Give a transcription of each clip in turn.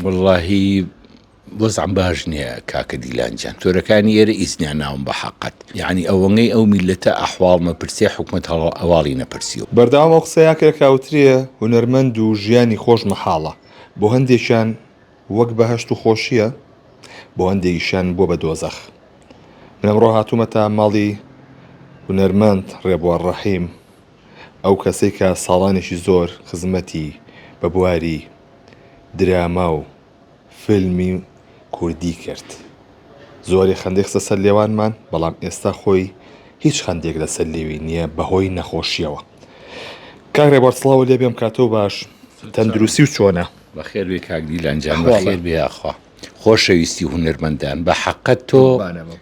وەڵاهی وەزعم باش نیە کاکە دیلان جان تۆرەکانی ئێرە ئیسنیان ناوم بە حەقت یانی ئەوەنەی ئەو میلەتە ئەحواڵ نەپرسێ حکومەت هەڵە ئەواڵی نەپرسیوە. بەردەوام ئەو قسەیا کە کاوترێ هونەرمەند و ژیانی خۆش مەحاڵە بۆ هەندێکیان وەک بەهەشت و خۆشیە بۆ هەندێکیشیان بوە بە دۆزەخ من ئەمڕۆ هاتومەتە ماڵی هونەرمەند ڕێبوار ڕەحیم. ئەو کەسەی کە ساڵانێکی زۆر خزمەتی بە بواری دراما و فیلمی کوردی کرد. زۆری خەندەی خستە سەر لێوانمان، بەڵام ئێستا خۆی هیچ خەندێک لەسەر لێوی نییە بەهۆی نەخۆشییەوە. کاک رێبوار سڵاوت لێ بێم کاتۆ باش، تەندروستی چۆنە؟ بەخێر بێی کاک دیلان جان. بەخێر بێی یاخوا. خۆشەویستی هونەرمەندان بە حەقە تۆ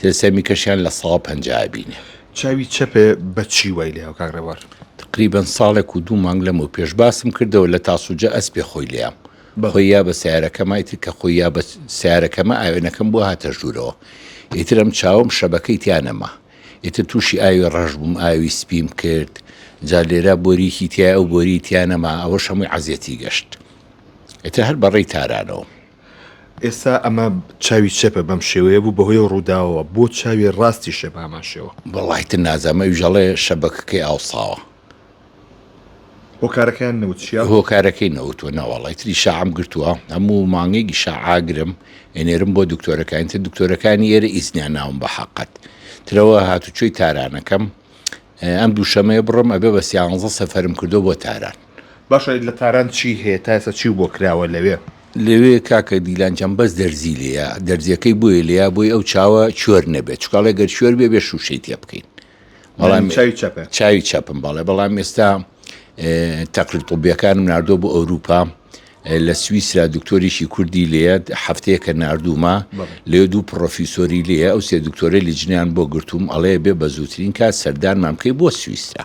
تلسێمیکەشیان لە سەدا پەنجا ئەبینێ. چاوی چەپێ بە چی وای لێ هاو کاک ڕێبوار؟ تقریبەن ساڵێک و دوو مانگ لەمەو پێش باسم کردەوە لە تاسوجە ئەسپێ خۆی لێام خۆی یا بە سیارەکەما ئیتر کە خۆی یا بە سیارەکەمە ئاوێنەکەم بۆ هاتە ژوورەوە ئیتر ئەم چاوم شەبەکەی تیا نەما ئیتر تووشی ئاوی ڕەش بووم ئاوی سپیم کرد جا لێرا بۆریکی تیا ئەو بۆری تیا نەما ئەوەش هەمووی عەزیەتی گەشت ئیتر هەر بەڕێی تارانەوە ئێستا ئەمە چاوی چەپە بەم شێوەیە بوو بەهۆی ڕووداوەوە بۆ چاوی ڕاستی شێ بامان شێوە بەڵایتر نازامە وژەڵێ شەبەکەکەی ئاوساوە هۆکارەکەیان نەوت چیە؟ هۆکارەکەی نەوتوە ناوەڵی تری شعام گرتووە هەموو مانگێکی شعاگرم ئێنێرم بۆ دکتۆرەکانی تر دکتۆرەکانی ئێرە ئیسنیان ناوم بە حقت ترەوە هاتوچۆی تارانەکەم ئەم دووشەمەیە بڕم ئەبێ بە سیانزە سەفرم کردو بۆ تاران باشە لە تاران چی هەیە تاسە چی بۆ کراوە لەوێ لەوێ کاکە دیلان جان بەس دەرزی لێیە دەرزیەکەی بۆیە لێیە بۆی ئەو چاوە چۆر نەبێت چکاڵێ گەر چۆر بێ بێ شوشەی تێ بکەین بەڵام چاوی چەپە چاوی چەپم باڵێ بەڵام ئێستا تەقری طبیەکانم نردۆ بۆ ئەوروپا لە سویسرا دکتۆریشی کوردی لێت هەفتەیەکە نردومە لێ دوو پرۆفیسۆری لێ ئەو سێ دکتۆری لە جنیان بۆ گرتووم ئەڵەیە بێ بە زووترین کات سەردانمان بکەی بۆ سویسرا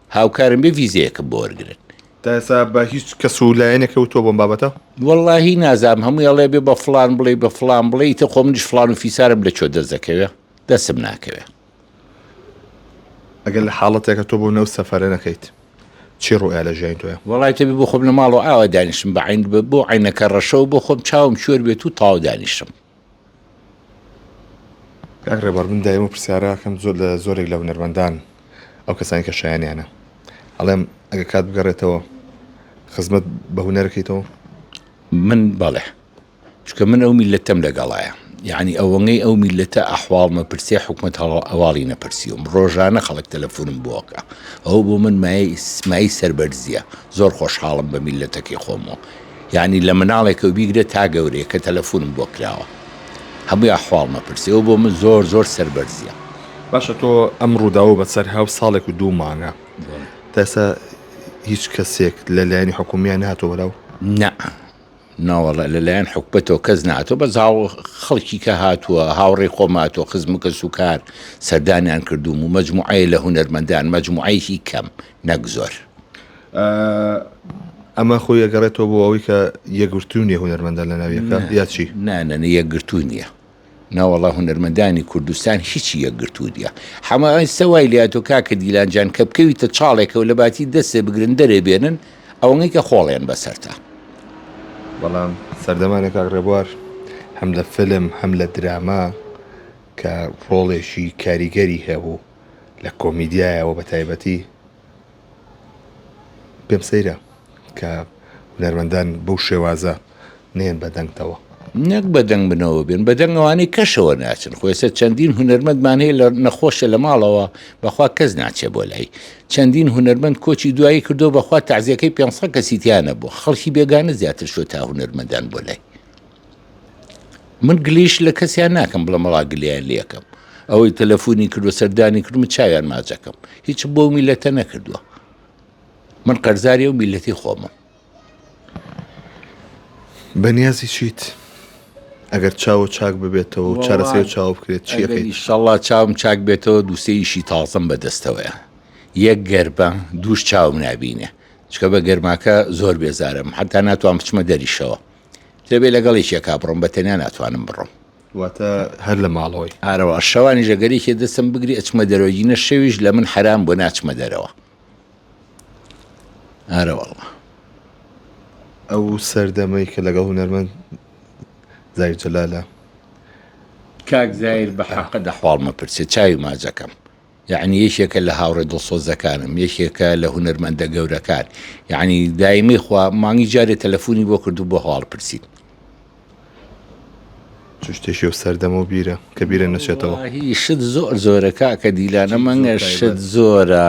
هاوکارم بێ ڤیزەیەکم بۆ وەرگرن. تا ئێستا بە هیچ کەس و لایەنێک کەوتووە بۆم بابەتە؟ وەڵاهی نازام هەمووی ئەڵێ بێ بە فلان بڵێ بە فلان بڵێ ئیتە خۆ منیش فلان و فیسارم لە چۆ دەست دەکەوێ دەسم ناکەوێ ئەگەر لە حاڵەتێکە تۆ بۆ نەو سەفەرە نەکەیت چی ڕوئیا لە ژیانی تۆە وڵای تەبی بۆ خۆم لە ماڵەوە ئاوا دانیشتم بە عین بۆ عینەکە ڕەشەوە بۆ خۆم چاوم شوێر بێت و تاو دانیشتم کاک ڕێبوار من دایم و پرسیارە ئەکەم زۆر لە زۆرێک لە هونەرمەندان ئەو کەسانی کە شایانیانە ئەڵێم ئەگە کات بگەڕێتەوە خزمەت بە هونەرەکەیتەوە من بەڵێ چکە من ئەو میلەتەم لەگەڵایە یعنی ئەوەنگەی ئەو میلەتە ئەحواڵمە پرسێ حکومت هەڵە ئەواڵی نەپرسیوم ڕۆژانە خەڵک تەلەفۆنم بۆکە ئەو بۆ من مای سمایی سەربەرزیە زۆر خۆشحاڵم بە میلەتەکەی خۆمەوە یانی لە مناڵێکەوە بیگرە تا گەورەیە کە تەلەفونم بۆ کراوە هەموی ئەحواڵم ئەپرسێ ئەو بۆ من زۆر زۆر سەربەرزیە. باشە تۆ ئەم ڕووداوە بە سەر هاو ساڵێک و دوو مانگە تا ئێستا هیچ کەسێک لە لایەنی حکومیان نهاتۆ بەراو؟ نا ناوەڵە لەلایەن حکوبەتەوە کەس ناتۆ بە زااو خەڵکی کە هاتووە هاوڕێ خۆماتۆ خزم کەس و کار سەردانیان کردوم و مەجموعەیە لە هونەرمەندان مەجموعەیەکی کەم نەک زۆر. ئەمە خۆی ئەگەڕێتەوە بۆ ئەوەی کە یەکگرتوو نیە هونەرمەندان لە ناو یەکە یا چی؟ نا نا نا یەکگرتوو نییە. ناوەڵا هونەرمەندانی کوردستان هیچی یەکگرتوو نیە حەمە ئێستا وای لاتۆ کاکە دیلان جان کە بکەویتە چاڵێکەوە لە باتی دەستێ بگرن دەرێ بێنن ئەوەنەی کە خۆڵێن بەسەرتا. بەڵام سەردەمانێک کاک ڕێبوار هەم لە فیلم هەم لە دراما کە ڕۆڵێکی کاریگەری هەبوو لە کۆمیدیایەوە بە تایبەتی، پێم سەیرە کە هونەرمەندان بەو شێوازە نێن بە دەنگتەوە. نەک بە دەنگ بنەوە بێن بە دەنگ ئەوانەی کەشەوە ناچن خۆێستا چەندین هونەرمەندمان هەیە لە نەخۆشە لە ماڵەوە بەخوا کەس ناچێ بۆ لای چەندین هونەرمەند کۆچی دوایی کردو بەخوا تازیەکەی 500 کەسیتیانە بۆ خەڵکی بێگانە زیاتر شو تا هونەرمەندان بۆ لای من گلیش لە کەسیان ناکەم بڵم ڕا گلیان لەکەم ئەوەی تەلەفۆنی کردو سەردانی کردم چاویان ماجەکەم هیچ بۆ میلەتە نەکردووە من قەرزاری و میلەتی خۆمە بەنیازی چیت ئەگەر چاوە چاک ببێتەوە و چارەسەر چاو بکرێت چیشەڵا چاوم چاک بێتەوە دووسێیشی تازم بەدەستەوەە یەک گەربە دووش چاوم نبینێ چکە بە گەرماکە زۆر بێزارم حتا ناتوان بچمە دەریشەوە دەبێت لەگەڵ یەکێکا بڕۆم بە تەنیا ناتوانم بڕۆم واتە هەر لە ماڵەوەی ئارەوە شەوانی ژەگەرێکی دەستم بگری ئەچمە دەرەوەگینە شەویش لە من حرام بۆ ناچمە دەرەوە ئارەوەڵە ئەو سەردەمەی کە لەگەڵ هونەرمەند زای جەلالە کاک زایر بە حەقە دەحواڵمە پرسێ چاوی ماجەکەم یەعنی یەکێکە لە هاوڕێ دڵسۆزەکانم یەکێکە لە هونەرمەندە گەورەکان یەعنی دایمەی خوا مانگی جارێ تەلەفۆنی بۆ کردو بۆ هەواڵ پرسیت چشتێکی و سەردەم و بیرە کە بیرە نەچێتەوە هی شت زۆر زۆرە کاکە دیلانە مەنگە شت زۆرە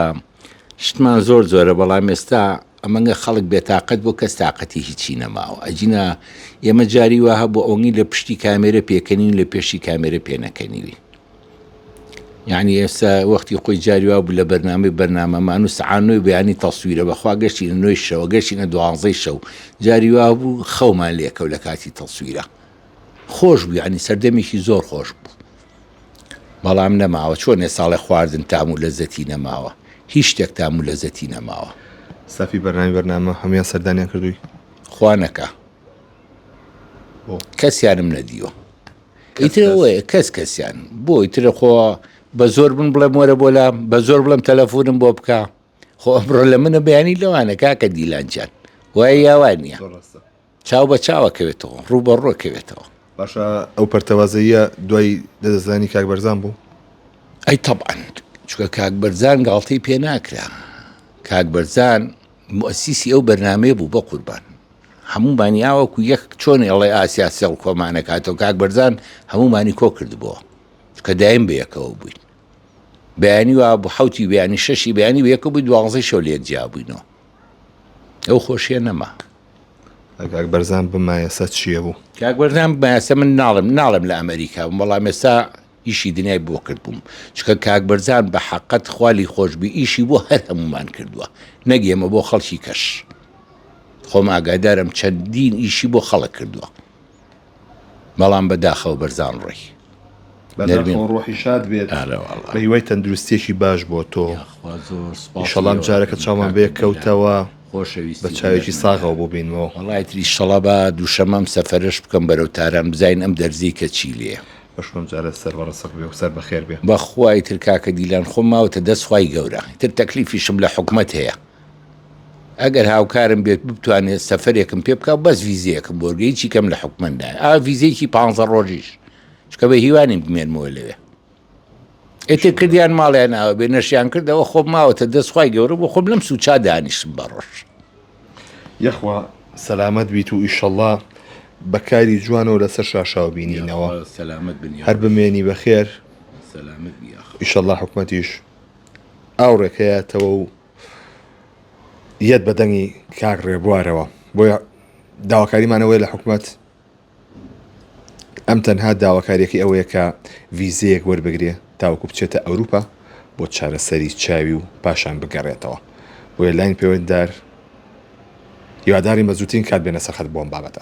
شتمان زۆر زۆرە بەڵام ئێستا ئەمەگە خەڵک بێتاقەت بۆ کەس تااقەتی هیچی نەماوە ئەجینا ئێمە جاری وەها بۆ ئەونی لە پشتی کامێرە پێکەنین لە پێشی کامێرە پێنەکەنیوی یانی ئێستا وەختی خۆی جاری وا بوو لە بەرنامەی بەرنامەمان و سعانۆی بەیانی تەسویرە بەخوا گەشتینە نوێی شەوە گەشتینە دوانزەی شەو جاری وا بوو خەومان لێکەو لە کاتی تەسویرە خۆش بوو ینی سەردەمێکی زۆر خۆش بوو بەڵام نەماوە چۆنێ ساڵێ خواردن تام و لەزەتی نەماوە هیچ شتێک تام و لەزەتی نەماوە سافی بەرنامی بەرنامە هەموان سەردانیان کردووی خوانەکە کەسیانم نەدیوە ئیترەوەیە کەس کەسیان بۆ ئیترە خۆ بە زۆر بن بڵێ مۆرە بۆ لام بە زۆر بڵم تەلەفۆنم بۆ بکە خۆ ئەمڕۆ لە منە بەیانی لەوانە کاکە دیلانجان وای یاوان نییە چاو بە چاوەکەوێتەوە ڕوو بە ڕۆکەوێتەوە باشە ئەو پەرتەوازەیە دوای دەدەزانی کاک بەرزان بوو ئەی تەبعاند چکە کاک بەرزان گاڵتەی پێ ناکرا کاک بەرزان موسیسی ئەو بەرنامەیە بوو بەقوربان هەموومانی ئاوەکو یەک چۆنی ئەڵێ ئاسیا سێڵ کۆمانەکاتەوە کاک بەرزان هەموومانی کۆ کردبووە کە دایم بەیەکەوە بووین بەیانی وا بۆ حوتی بیانی شەشی بیانی وەکە بوو دوازی شەو لێک جیابووینەوە ئەو خۆشیە نەما کاک بەرزان بمایەسە چییە بوو کاک بەرزان بایەسە من ناڵم ناڵم لە ئەمریکا بووم بەڵام ئێستا ئیشی دنیای بۆ کردبووم چکە کاک بەرزان بە حەقت خوا لی خۆش بی ئیشی بۆ هەر هەموومان کردووە نەک ئێمە بۆ خەڵکی کەش خۆم ئاگادارم چەندین ئیشی بۆ خەڵک کردووە بەڵام بە داخەوە بەرزان ڕۆی بەداخەوە ڕۆحی شاد بێت بە هیوای تەندروستیەکی باش بۆ تۆ ئیشەڵا ئەم جارەکە چاومان بێ کەوتەوە بە چاوێکی ساغەوە بۆ بینمەوە وڵاتری شەڵا بە دووشەمەم سەفەرش بکەم بەرەو تاران بزین ئەم دەرزی کە چی لێ بەشکۆم جارێ سەر بەڕەسک بێ و سەر بەخێر بێ. بەخوا ئیتر کاکە دیلان خۆم ماوەتە دەست خوای گەورە ئیتر تەکلیفیشم لە حکومەت هەیە ئەگەر هاوکارم بێت بتوانێت سەفەرێکم پێ بکە بەس ڤیزەیەکم بۆرگە هیچی کەم لە حکومەت نایە ئا ڤیزەیەکی پانزە ڕۆژیش چکە بە هیوانیم بمێنمەوە لەوێ ئێتر کردیان ماڵیان ئاوە بێ نەشیان کردەوە خۆم ماوەتە دەستخوای گەورە بۆ خۆم لەم سوچا دانیشتم بە ڕۆژ یەخوا سەلامەت بیت و ئیشەڵا بە کاری جوانەوە لەسەر شاشاو بینینەوە سەلامەت بنی هەر بمێنی بەخێر ئیشەڵا حکومەتیش ئاو ڕێکەیەتەوە و یەت بەدەنگی کاک ڕێبوارەوە بۆیە داواکاریمانەوەی لە حکومەت ئەم تەنها داواکاریەکەی ئەوەیە کە ڤیزەیەک وەربگرێ تاوەکو بچێتە ئەوروپا بۆ چارەسەری چاوی و پاشان بگەڕێتەوە بۆیە لاین پەیوەنددار هیوادارین بە زووترین کات بێنە سەرخەت بۆم بابەتە.